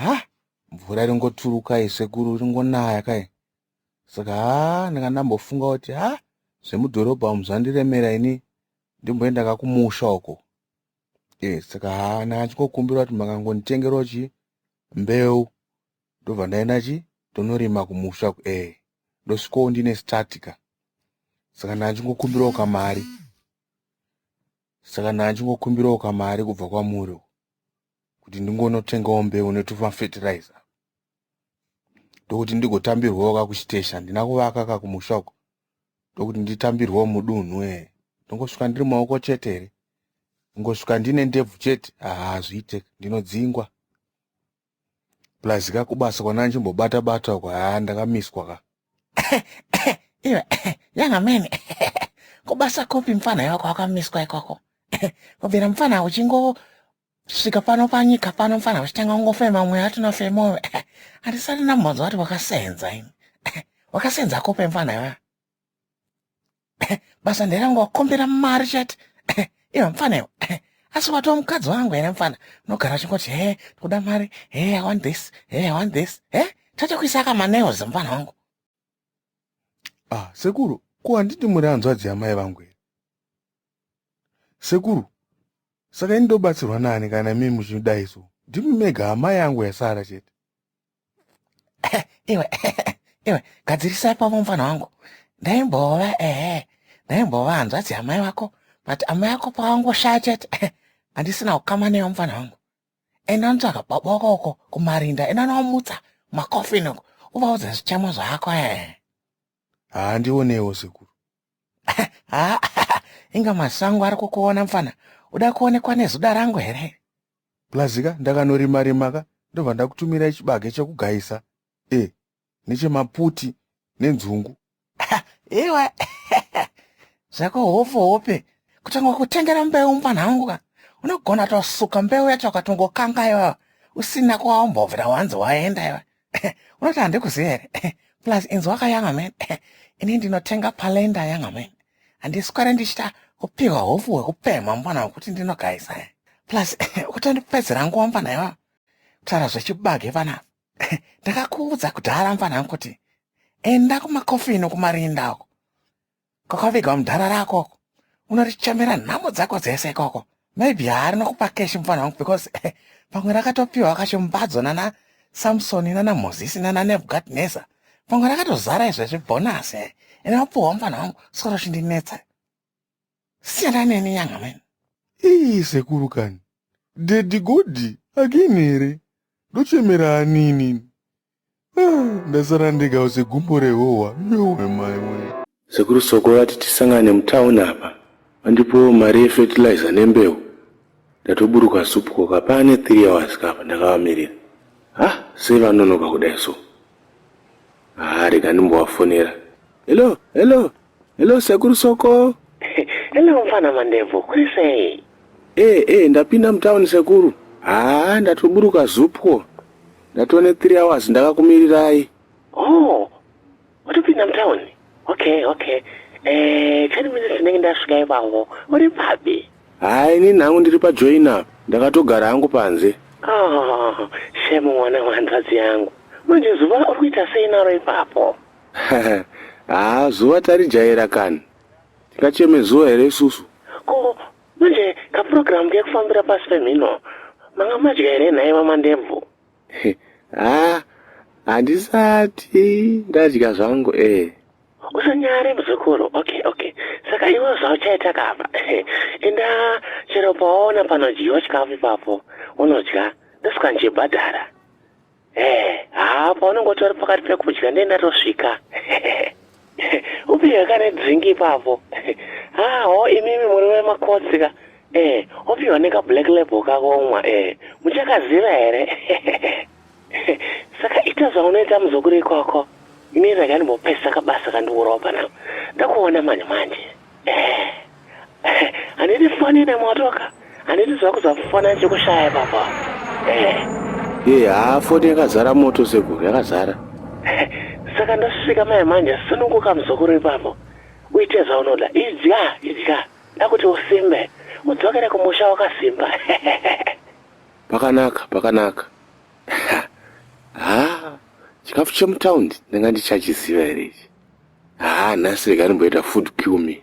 ha mvura iringoturuka iyi sekuru iringonaya kai saka ha ndanga ndambofunga kuti ha zvemudhorobha umu zvandiremera ini ndimboenda kakumusha uko e saka ha ndanga ndichingokumbira kuti makangonditengerawo chii mbeu ndobva ndaenda chi tonorima kumusha ku e ndosvikawo ndine statika saka ndanga ndichingokumbirawo kamari saka ndanga ndichingokumbirawo kamari kubva kwamuri uko kuti ndingonotengawo mbeu netuma fertilizer ndokuti ndigotambirwawo ka kuchiteshi handina kuvaka ka kumusha uko ndokuti nditambirwawo mudunhu e ndongosvika ndiri maoko chete here ingosvika ndine ndebvu chete haazviite ndinodzingwa plus ka kubasa kwandandichimbobata bata uko haa ndakamiswa ka iwe yanga mene kubasa kopi mfana yako wakamiswa ikoko kubvira mfana uchingo svika pano panyika pano mfana uchitanga kungofema mweya atina femoyo handisati nambodzwa kuti wakasenza ini wakasenza kope mfana iwe basa nderangu wakombera mari chete iva mfana iwe asi watova mukadzi wangu here mfana unogara uchingoti he tikuda mari he i want this he i want this he tachakuisa akamaneos mfana wangu ah sekuru ko handiti muri hanzvadzi yamai vangu here sekuru saka ini ndobatsirwa nani kana mimi muchidai so ndimi mega amai yangu yasara chete iwe iwe gadzirisai pavo mufana wangu ndaimbova ehe ndaimbova hanzvadzi yamai vako but amai ako pawangoshaya chete handisina kukama neyo mufana wangu enda ndotsvaga baba wako uko kumarinda enda nowamutsa makofini uko uvaudze zvichemo zvako ehe haa ndionewo sekuru haa inga masango ari kukuona mfana uda kuonekwa nezuda rangu here plazika ndakanorima rima ka ndobva ndakutumirai chibage chekugaisa e nechemaputi nenzungu iwe zvako hofo hope kutanga kutengera mbeu mfana wangu ka unogona tosuka mbeu yacho akatongokangayo usina kwaombovira wanzi waenda iwe unoti handikuziva here plus inzi wakayanga man ini ndinotenga palenda yanga man handiswere ndichita kupiwa hofu hwekupemha mwana wekuti ndinogaisa plus kutondipedzera nguva mfana iwa kutaura zvechibage vana ndakakuudza kudhara mfana kuti enda kumakofino kumarinda uko Kwakaviga mudhara rako uko. Unorichamera nhamo dzako dzese ikoko. Maybe haari nokupa cash mufana wangu because eh, pamwe rakatopiwa kacho mbadzo nana Samson nana Moses nana Nebuchadnezzar. Pamwe rakatozara izvezvi bonus eh. Ene wapuwa mufana wangu soro chindinetsa. Siyana neni nyanga meni. Ii sekuru kani. Daddy Godi again here? Ndochemera anini. ndasara ndega use gumbo rehohwa yowe mai wee Sekuru Soko vati tisangane mutown apa vandipowo mari yefertilizer nembeu ndatoburuka soup koka paane 3 hours ka apa ndakavamirira hah sei vanonoka kudai so haa rega ndimbovafonera hello hello Hello sekuru soko. Hello mfana mandevu, kuri sei? Eh eh ndapinda mutown sekuru. Haa ndatoburuka zupwo. Ndatone 3 hours ndakakumirirai. Oh. Watopinda mutown? Okay, okay. Eh, 10 minutes ndenge ndasvika ipapo. Uri papi? Haa ini nangu ndiri pa join up. Ndakatogara hangu panze. Oh, shame mwana wanzvadzi yangu. Manje zuva uri kuita sei naro ipapo? haa zuva tarijaira kani tingacheme zuva here isusu ko manje kapurogiramu kekufambira pasi pemhino manga madya here nhai mamandebvu haa handisati ndadya zvangu ee usanyare muzukuru okay okay saka iwe zvauchaita kapa enda chero pawaona panodyiwa chikafu ipapo unodya ndosika ndichibhadhara Eh, haa paunenge utori pakati pekudya ndiye ndatosvika. Upihwe kane drink ipapo. Haa ho imimi muri vemakotsi ka. Eh, opihwa neka black label kakomwa eh. Muchakaziva here? Saka ita zvaunoita muzukuru ikoko. Ini rega ndimbopesa kabasa kandiurawo panapa. Ndakuona manje manje. Eh. Handiti fani ine motoka. Handiti zvako zvafana chekushaya baba. Eh. Ye haa foni yakazara moto sekuru yakazara. Saka ndosvika mai manje sununguka muzukuru ipapo. Uite zvaunoda. Idya idya. Dakuti usimbe. Udzokere kumusha wakasimba. pakanaka pakanaka. Haa chikafu chemutaundi ndanga ndichachiziva here ichi. Haa nhasi rega ndimboita food cue me.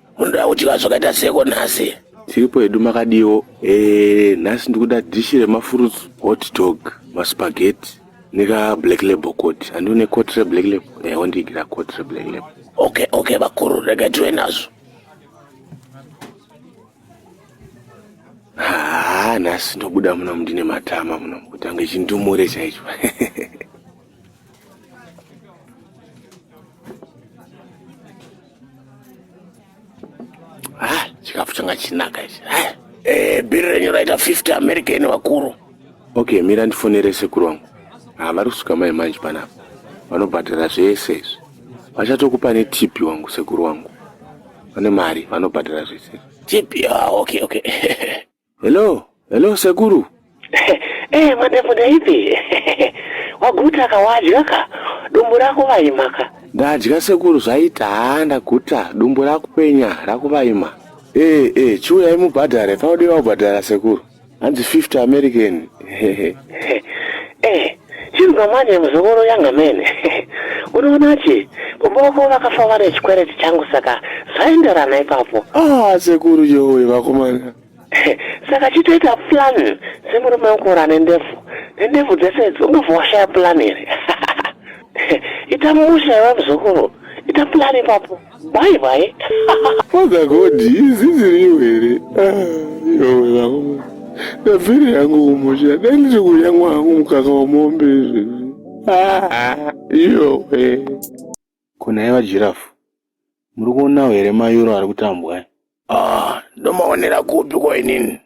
Munoda kudya zvakaita seko nhasi? Tiripo hedu makadiwo. Eh, nhasi ndikuda dish remafurutsu, hot dog, maspaghetti nika black label coat. Andione coat re black label. Eh, wondigira coat re black label. Okay, okay vakuru, rega tiwe nazvo. Ah, nhasi ndobuda muno mndine matama muno. Kutanga chindumure chaicho. chikafu changa chinaka ichi eh, eh, bhiri renyu raita 50 american vakuru okay mira ndifonere sekuru wangu ah, vari kusvika mai manje panapa vanobhadhara zvese izvi vachatokupa netipi wangu sekuru wangu vane mari vanobhadhara zvese tipi ah, okay okay Hello, hello sekuru. Eh, mandefu ndaipi? Waguta ka wadya ka? Dumbu rako vaima ka? Ndadya sekuru zvaita haa ndaguta dumbu rakupenya rakuvaima. Eh, eh, chiuyai mubhadhare paudeva kubhadhara sekuru. Hanzi 50 American. Eh, Chinzwa manje muzukuru yanga mene unoona che kumboko vakafa vane chikwereti changu saka zvaenderana ipapo ah sekuru yowe vakomana saka chitoita plan semurume wekura nendefu nendefu dzese idzi ungabva washaya plan here ita musha iwe muzukuru ita plan ipapo Bye bye. Father God, izi ziriyo here? Ah, yowe vangu. Ndabvire yangu umusha. Dai ndiri kudya mwangu mukaka wemombe izvi. Ah, yowe. Kuna iva giraffe. Muri kuonawo here mayuro ari kutambwa? Ah, ndomaonera kupi ko inini?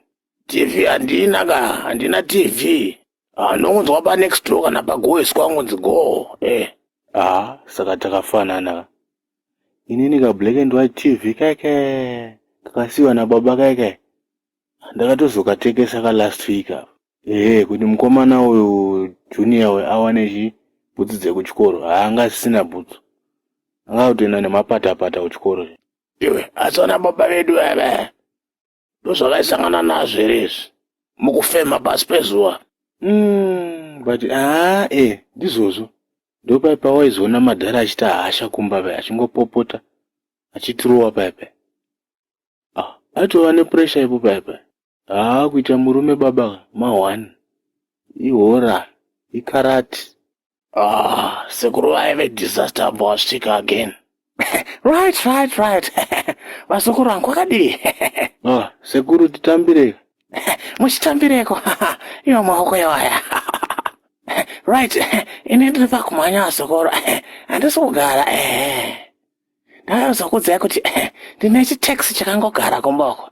TV handina ka, handina TV. Ah, ndongonzwa pa next door kana pagoeswa angonzi go. Eh. Ah, saka takafanana ka. Inini ka black and white TV keke. Kakasiwa na baba keke. Ndakatozokatekesa ka last week apa. Eh, kuti mukomana uyu junior we awane chi bhutsu dzekuchikoro. Haanga asisina bhutsu. Anga kutoenda nemapata pata kuchikoro. Iwe, asona baba vedu ava. ndozvakaisangana nazvo here izvi mukufema pasi pezuva mm, but aa e eh, ndizvozvo ndopai pawaizoona madhara achita hasha kumba pai achingopopota achitirowa pai pai ah, atova nepuresha ipo pai pai haa kuita murume baba ma one ihora ikarati Ah, sekuru vaive disaster ambwa wasvika again. right, right, right. Vazukuru vangu kwakadii? ah, sekuru titambireko. Muchitambireko. Iwo maoko yawaya. right, ini ndiri pakumhanya vazukuru. Handisi kugara. Eh. Ndakazokudzai kuti ndine chitaxi chakangogara kumboko.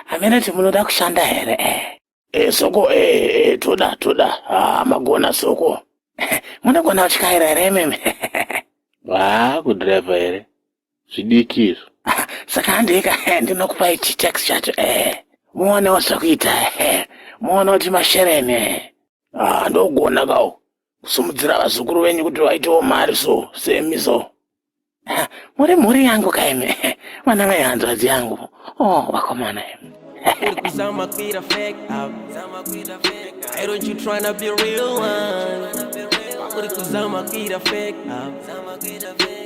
Hamene kuti munoda kushanda here? Eh. e soko e, e toda toda ah, magona soko munogona kutyaira here imimi haa kudhiraivha here zvidiki izvo saka handika ndinokupai chitax chacho e muonewo zvakuita e muone kuti mashereni e ah, ndogona kawo kusimudzira vazukuru venyu kuti vaitewo mari so semi so muri mhuri yangu kaimi vana mai hanzvadzi yangu o oh, vakomana imi Why don't you try to be real one? Why would it cause I'm a kid of fake?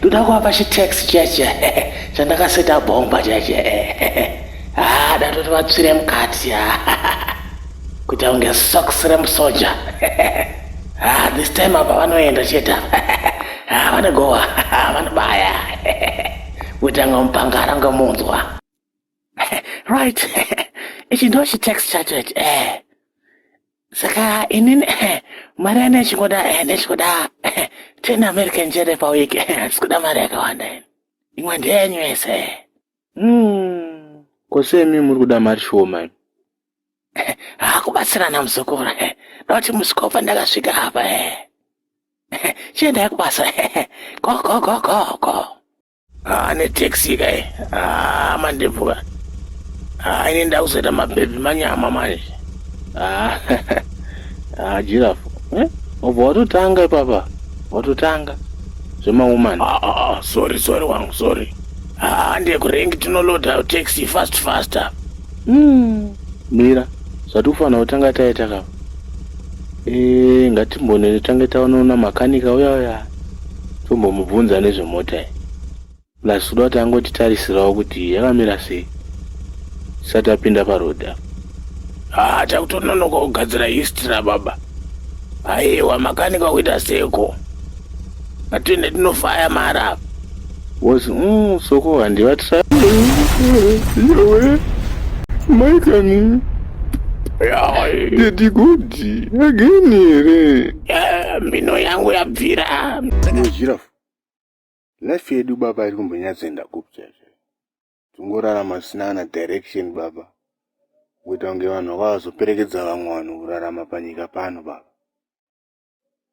ndoda kuvapa chitax chiya chiya chandakaseta bhomba chiya chiya haa ah, datoti vatsvire mukati kuti aunge sox remusoja haa ah, this time apa vanoenda chete haa ah, vanogowa vanobaya kutanga mupangara ngamunzwa right ichi ndo chitex chacho ichi eh saka inini eh, mari ane ichingoda eh, ndechikuda eh, ten american jere pawiki handisi kuda mari yakawanda ini imwe ndeyenyu yese mm. kosemi muri kuda mari shoma ini hakubatsirana muzukuru noti musikopa ndakasvika apa chiendai kubasa gogogogogo haa netaxi kai haa mandepfuka haa ini ndakuzoita mabhebhi manyama manje haa haa jirafu eh? obva watotanga ipapa watotanga zvemawoman ah, ah, ah, sorry sorry wangu sorry haa ndekurengi tinoloda taxi fast faster mm. mira zvati kufanira kutanga taita kapa Eh, ngatimbonene tange taonaona makanika uya uya tombomubvunza nezvemota iyi plus kuda kuti angotitarisirawo kuti yakamira sei tisati apinda paroad apa haa takutononoka kugadzira history rababa aiwa makanika kuita seko Atende tinofaya mara. Was mm soko handi vatsa. Yowe. Mai kani. Daddy good. Again here. Eh, mino yangu yabvira. Daddy giraffe. Life yedu baba iri kumbonyadzenda kupi chaizvo. Tungorarama sina kana direction baba. Kuita kunge vanhu vakazoperekedza vamwe vanhu kurarama panyika pano baba.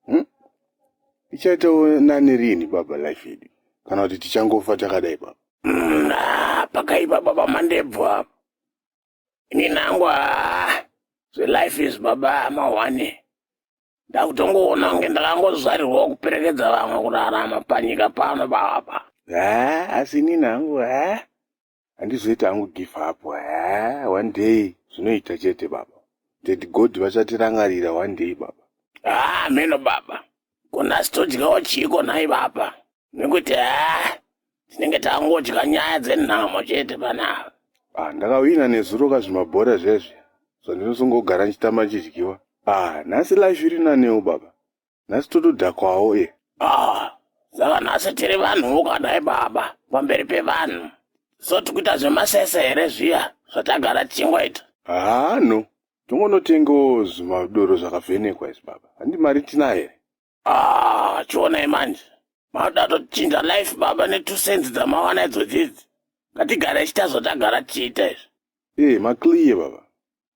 hmm? ichaitawo nani rini baba life yedu kana kuti tichangofa takadai baba hmm, ah, pakaipa baba mandebvu apa ini nangwa ah, zvelife is baba amahwane ndakutongoona kunge ndakangozvarirwawo kuperekedza vamwe kurarama panyika pano baba ha asi ini nangu ha Handizoita hangu give up haa one day zvinoita chete baba. Daddy God vachatirangarira one day baba. Haa hameno baba. Ko nhasi todyawo chiiko nhai baba? Nekuti haa tinenge tangodya nyaya dzenhamo chete panapa. Ah ndakawina nezuro ka zvimabhora zviya zviya. So ndinosongogara ndichitamba ndichidyiwa. Ah nhasi life iri nanewo baba. nhasi totodhakwawo e ah saka nhasi tiri vanhu vokadai baba pamberi pevanhu so tikuita zvemasese here zviya zvatagara tichingoita haa no tongonotengawo zvimadoro zvakavhenekwa izvi baba handi mari tina here ah chionai manje mauda tochinja life baba netwo senzi dzamawana idzodzidzi ngatigare chita zvotagara tichiita izvi ee eh, maclear baba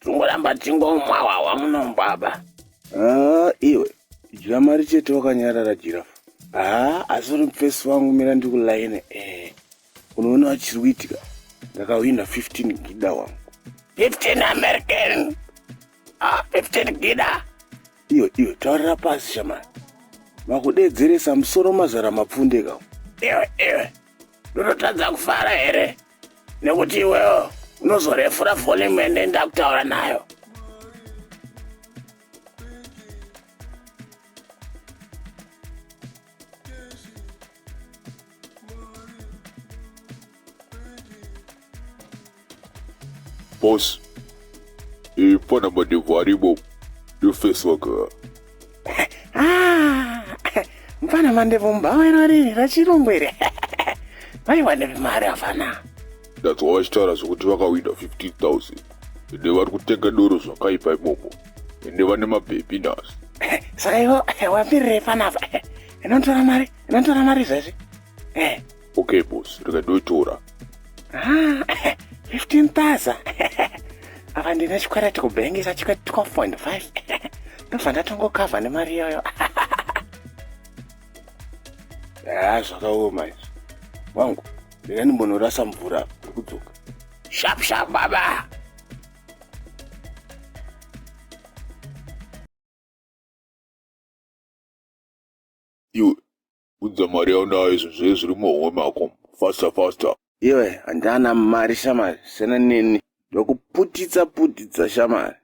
Tingoramba tingomwawawa munomu baba. Haa iwe dya mari chete wakanyarara jirafu. Haa asi uri mufesi wangu mira ndikulaine ee. Unoona vachiri kuitika ndakahwina 15 gida wangu. 15 American. Ah, 15 gida. Iwe iwe taurira pasi shamani. Makudedzeresa musoro mazara mapfundeka. Iwe iwe. Ndototadza kufara here? nekuti iwewo unozorefura volume ende ndakutaura nayo Boss, ifana madevaribo, you face worker. Ah, mfana mandevu mbhawa iro riri rachirungu iri vaiwa nevimari afana ndanzwa vachitaura zvekuti vakawina 15000 ende vari kutenga doro zvakaipa imomo ende vane mabhebhi nhasi saka ivo wapirirei panapa inotora mari inotora mari izvezvi Eh, Okay boss, rega ndoitora. Ah, 15,000. Ava ndine chikwereti kubhengi chachika 12.5. Ndobva ndatongokavha nemari iyoyo. Ah, zvakaoma izvi. Wangu, rega ndimbonorasa mvura ndikudzoka. Sharp sharp baba. Unza mari yaunayo izvo zve zviri muhomwe mako faster faster. Iwe handana mari shamari siyana neni ndokuputitsa putitsa shamari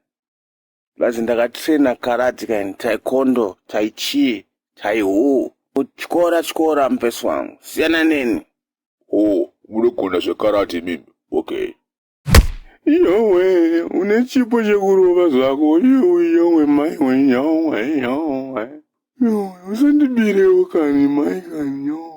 plus ndakatraina karate kaini taekwondo taichii taihuu kutyora tyora mupesi wangu siyana neni. Hoo munogona zvekarate imimi okay. Yowe, une chipo chekurova zvako. Yowe, yowe, mai we, yowe, yowe. Yowe, usandibirewo kani, mai kani, yowe.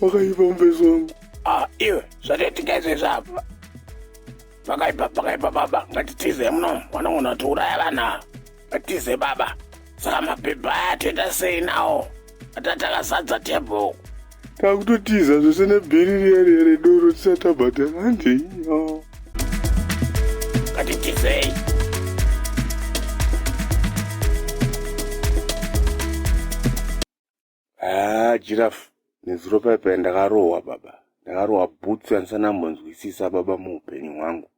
pakaipa mubezi wangu ah, iwe zvataitika izvezvi apa pakaipa pakaipa baba ngatitize muno vanogona kuti uraya vana ngatize baba saka mapepa aya toita sei nawo atatakasadza table takutotiza zvese nebhiri riya riya redoro tisatabhadhara handei ngatitizei Haa Giraffe nezuro paye paye ndakarohwa baba. Ndakarohwa bhutsu yandisandambonzwisisa baba muupenyu hwangu.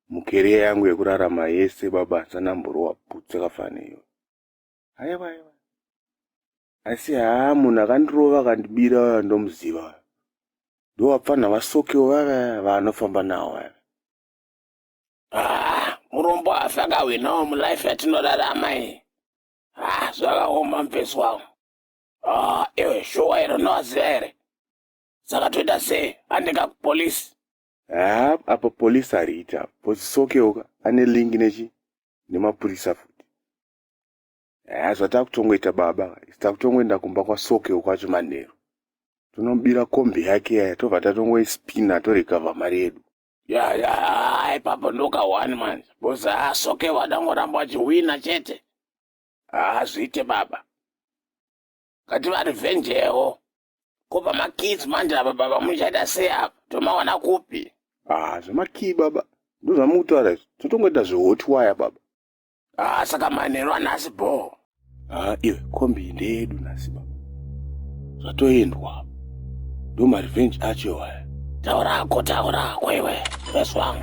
Mukeriya yangu yekurarama yese baba handisandamborohwa bhutsu yakafanana neyo. Aiwa aiwa. Asi haa munhu akandirova akandibira uya ndomuziva uya. Ndowapfanha vasokewo vava vanofamba nawo vava. Ah, murombo afa akahwinawo mulife yatinorarama iyi. ah zvakaoma mfesi wangu ah iwe shuwa iro noaziva here saka toita sei andinga kupolisi haa apa polisi ariita pozisokeuka ane lingi nechi nemapurisa futi haa zvatakutongoita baba isi takutongoenda kumba kwasokeu kwacho manheru tonomubira kombi yake yaya tobva tatongoispina torecover mari yedu ya ya haa ipapo ndoka one manje bcoz haa soke vadangoramba vachihwina chete haa zviite baba ngativarevenjewo ko pamakids manje apa baba muchaita sei apa tomawana kupi ah zvemakii baba ndozvamukutaura izvi totongoita zvehot wire baba Ah, saka manheru anhasi bhoo. Ah, iwe kombi ndeyedu nhasi baba. Zvatoendwa. Ndo ma revenge acho waya. Taura hako, taura hako iwe. Yes wangu.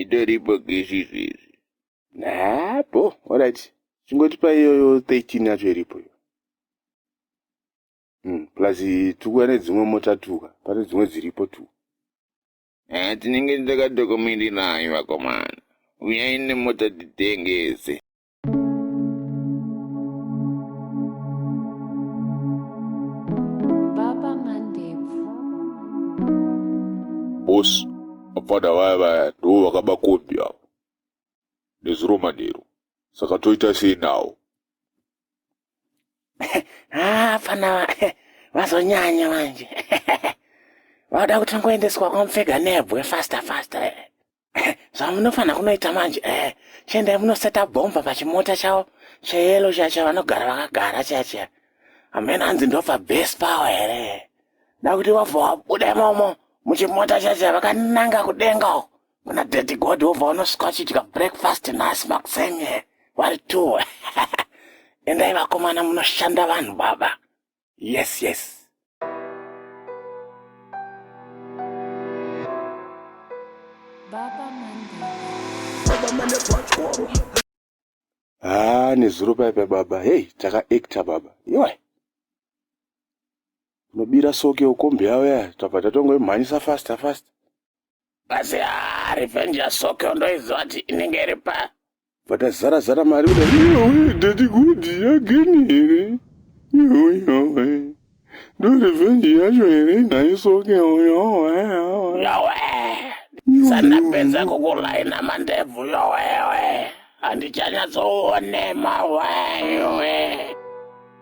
itori bhokisi izvezvi haa bho orit chingotipa iyoyo 13 yacho iripo iyo hmm, plus tukuya nedzimwe mota tuka pane dzimwe dziripo tu haa tinenge takadokomirirayo vakomana uyai nemota titengese boss vapfana vaya vaya ndivo vakaba kombi avo nezuro manheru saka toita sei nawo haa pfana vazonyanya manje vauda kuti ngoendeswa kwamupfega nebwe faster faster Eh, zvamunofanira kunoita manje eh, chiendai munoseta bhomba pachimota chavo cheyelo chiya chavanogara vakagara chiya chiya hamena hanzi ndobva base power here da kuti wabva wabuda imomo muchimota chiya chiya vakananga kudenga uko kuna daddy god wobva unosvika uchidya breakfast nhasi makuseni vari two endai vakomana munoshanda vanhu baba yes yes haa ah, nezuro paipa baba hei takaekta baba iwe unobira soke ukombi yavo ya tabva tatongoimhanyisa fasta fasta Kasi haa revenge ya Sokyo ndoiziva kuti inenge iri pa. Vakazara zara mari kuda iwe daddy good again here? Iwe iwe. Ndo revenge yacho here nhai Sokyo yowe. Yowe. Sandapedza kukulaina mandebvu yowewe. Handichanyatsoone mawayo.